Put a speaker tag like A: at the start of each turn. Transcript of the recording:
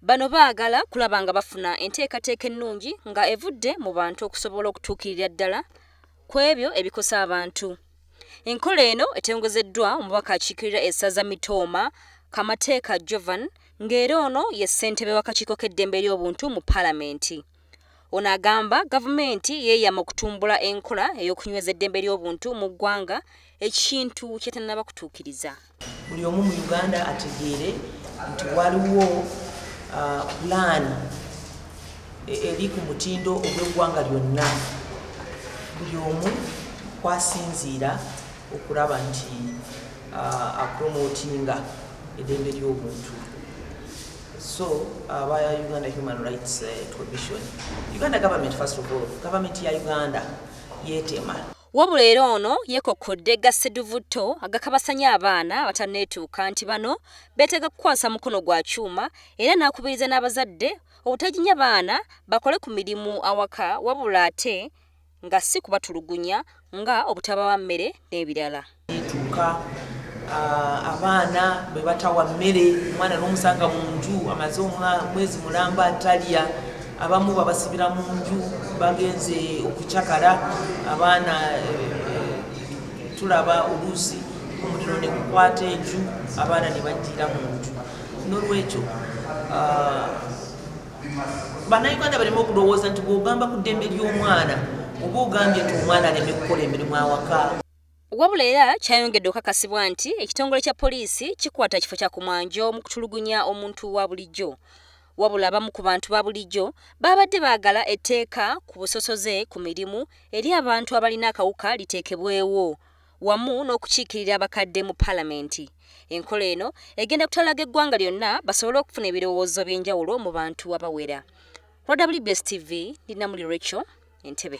A: Bano baagala kulaba nga bafuna enteekateeka ennungi nga evudde mu bantu okusobola okutuukirira ddala ku ebyo ebikosa abantu. Enkola eno etengozeddwa omubaka akiikirira essaza Mitooma, Kamateeka Jovan, ng'era ono ye ssentebe w'akakiiko k'eddembe ly'obuntu mu palamenti. Ono agamba gavumenti yeeyama okutumbula enkola ey'okunyweza eddembe ly'obuntu mu ggwanga ekintu kyetanaba kutuukiriza. Buli omu mu
B: Uganda ategeere nti waliwo uh, pulaani e-, eri ku mutindo ogw'eggwanga lyonna buli omu kwasinziira okulaba nti uh, apromotinga eddembe ly'obuntu. So aba uh, Uganda Human Rights uh, Commission, Uganda government first of all, government ya Uganda yetema. Wabula era
A: ono yekokkodde gasseduvutto agakabasanya abaana abatanneetuuka nti bano beetaaga kukwasa mukono gwa kyuma era n'akubiriza n'abazadde obutaginya baana bakole ku mirimu awaka wabula ate nga si kubatulugunya nga obutabawa mmere n'ebirala etuuka
B: abaana bwe batawa mmere omwana n'omusanga mu nju amaze omwezi mulamba atalya abamu babasibira mu nju bagenze okucakala abaana eh, tulaba oluusi omuliro ne gukwata enju abaana ne bajjira mu nju n'olwekyo bannayuganda baleme okulowooza nti bwogamba ku ddembe ly'omwana oba ogambye nti omwana aleme kukola emirimu awaka wabula era
A: kyayongedde okakasibwa nti ekitongole kya poliisi kikwata kifo kya kumwanjo mu kutulugunya omuntu wa bulijjo wabula abamu ku bantu ba bulijjo baabadde baagala etteeka ku busosoze ku mirimu eri abantu abalina akawuka liteekebwewo wamu n'okukiikirira abakadde mu palamenti enkola eno egenda kutalaga eggwanga lyonna basobole okufuna ebirowoozo by'enjawulo mu bantu abawera rwbs tv ndinamuli rachel entebe